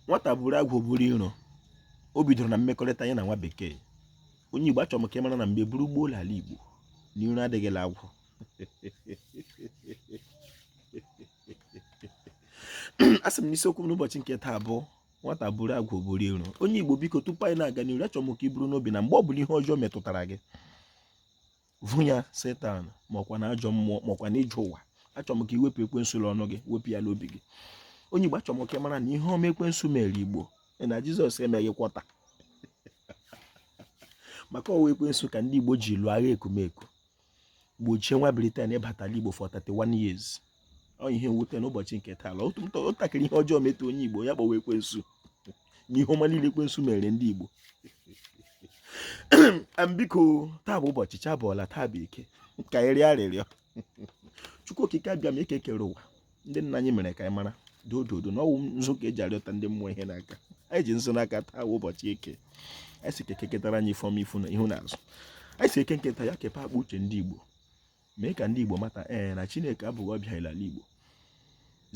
nwata buru agwụ buru iro o bidoro na mmekọrịta anyị na nwa bekee onye igbo achọrọ m ka ị mara na mgbe buru gboo la ala igbo na iro adịghị la agwụ a sị m n'isiokwu m n'ụbọchị nke taa bụ nwata buru agwụ buru iro onye igbo biko tupu anyị na-aga n'iru achọrọ m ka i buru n'obi na mgbe ọ bụla ihe ọjọọ metụtara gị vu ya setan makwa na ajọ mmụọ makwa na ije ụwa achọrọ m ka i wepụ ekwensu n'ọnụ gị wepụ ya n'obi gị onye igbo achọrọ m ka ị mara na ihe ọma ekwensu mere igbo na jizọs emeghị quarter maka ọ wụ ekwensu ka ndị igbo ji lụọ agha ekumeku gbochie nwa britain ịbata ala igbo for 31 years ọ ihe mwute n'ụbọchị nke taa la otu ntakịrị ihe ọjọọ metụ onye igbo ya kpọwa ekwensu na ihe ọma niile ekwensu mere ndị igbo biko taa bụ ụbọchị chi abọọla taa bụ eke ka anyị rịọ arịrịọ chukwu okike abịama eke kere ụwa ndị nna anyị mere ka anyị mara dododo na ọ wụ nzu ka e ji arịọta ndị mmụọ ihe n'aka anyị ji nzu n'aka taa bụ ụbọchị eke anyị sị ka eke ketara anyị ife ọma ifu na ihu na azụ anyị sị eke nke taa ya kepee akpa uche ndị igbo mee ka ndị Igbo mata ee na Chineke abụghị ọbịa n'ala Igbo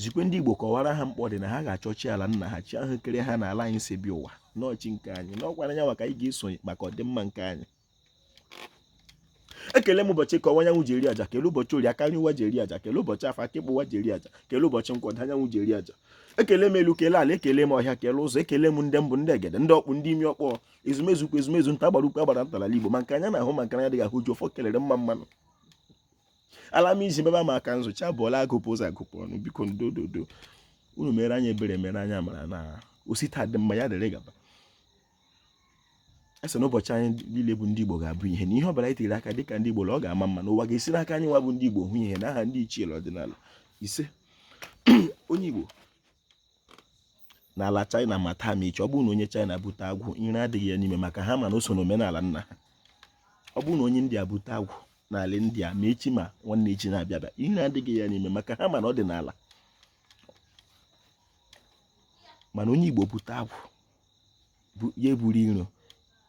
zikwe ndị Igbo kọwara ha mkpa ọ dị na ha ga-achọ chi ala nna ha chi ahụ kere ha n'ala anyị si bịa ụwa na ọ chi nke anyị n'ọkwara anyanwụ ka anyị ga-esonye maka ọdịmma nke anyị ekele m ụbọchị eke ọwụwa anyanwụ ji eri aja kele ụbọchị orie aka nri ụwa ji eri aja kele ụbọchị afọ aka ịkpa ụwa ji eri aja kele ụbọchị nkwọ ọdịda anyanwụ ji eri aja ekele m elu kele ala ekele m ọhịa kele ụzọ ekele m ndị mbụ ndị egede ndị ọkpụ ndị imi ọkpọ ezumezu ukwu ezumezu nta agbara ukwu agbara nta la ala igbo ma nke anya na-ahụ ma nke anya dịghị ahụ ji ọfọ kelere mma mma nụ ala m iji mebe maka nzu chi abọọla agụpụ ụzọ agụpụ ọnụ biko ndododo unu meere anyị ebere meere anyị amara na o si taa dị mma ya dịrị gaba ise na ụbọchị anyị niile bụ ndị Igbo ga-abụ ihe na ihe ọ bụla anyị tinyere aka dịka ndị Igbo na ọ ga-ama mma na ụwa ga-esi n'aka anyị nwa bụ ndị Igbo hụ ihe na aha ndị ichie ọdịnala ise onye Igbo n'ala China ma taa ma echi ọ bụrụ na onye China bute agwụ iro adịghị ya n'ime maka ha ma na o so n'omenala nna ha ọ bụrụ na onye India bute agwụ n'ala India ma echi ma nwanne echi na-abịa abịa iro adịghị ya n'ime maka ha ma na ọ dị n'ala mana onye Igbo bute agwụ ya eburu iro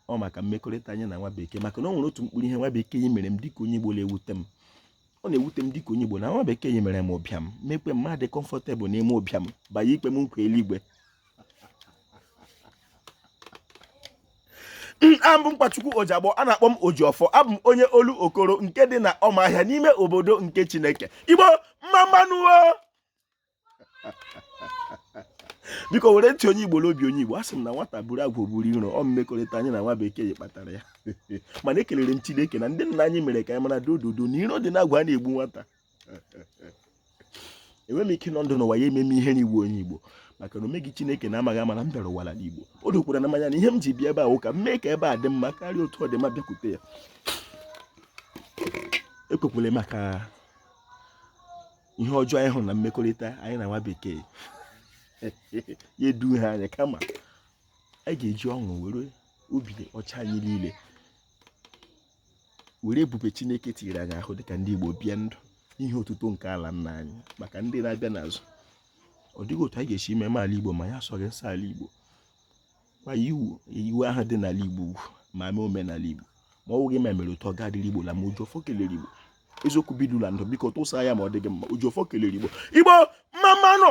ọ maka mmekọrịta anyị na nwa bekee maka na o nwere otu mkpụrụ ihe nwa bekee yi mere m dịka onye Igbo na-ewute m ọ na-ewute m dịka onye Igbo na nwa bekee yi mere m ụbịam mekwe m adị comfortable n'ime ụbịam bịa na-ekwe m nkwa eluigwe abụ m Nkwachukwu Ojiagbọ a na-akpọ m Ojiọfọ abụ m onye Olokoro nke dị na ọmahịa n'ime obodo nke Chineke Igbo mma mma nụ biko were ntị onye igbo n'obi onye igbo a sị m na nwata buru agwụ buru iro ọ mmekọrịta anyị na nwa bekee kpatara ya mana ekelere m chineke na ndị nna anyị mere ka anyị mara dododo na iro dị n'agwụ a na-egbu nwata enweghị m ike nọ ndụ n'ụwa ya ememe ihe na-egbu onye igbo maka na o meghị chineke n'amaghị ama na m bịara ụwa n'ala igbo o dokwara m anya na ihe m ji bịa ebe a wụ ka m mee ka ebe a dị mma karịa otu ọ dị ma m bịakwute ya ekwekwele maka ihe ọjọọ anyị hụrụ na mmekọrịta anyị na nwa bekee ya eduhie anyị kama anyị ga-eji ọṅụ were obi ọcha anyị niile were ebube chineke tinyere anyị ahụ dịka ndị igbo bie ndụ ihe otuto nke ala nna anyị maka ndị na-abịa n'azụ ọ dịghị otu anyị ga-esi mema ala igbo ma anyị asọghị nsọ ala igbo kwanyere iwu ahụ dị n'ala Igbo ugwu ma mee omenala Igbo ma ọ wụghị ma e mere otu ọ ga-adịrị Igbo la mma Ojiọfọ kelere Igbo eziokwu bidula ndụ biko tụsa ya ma ọ dị gị mma Ojiọfọ kelere Igbo Igbo mma mma nụ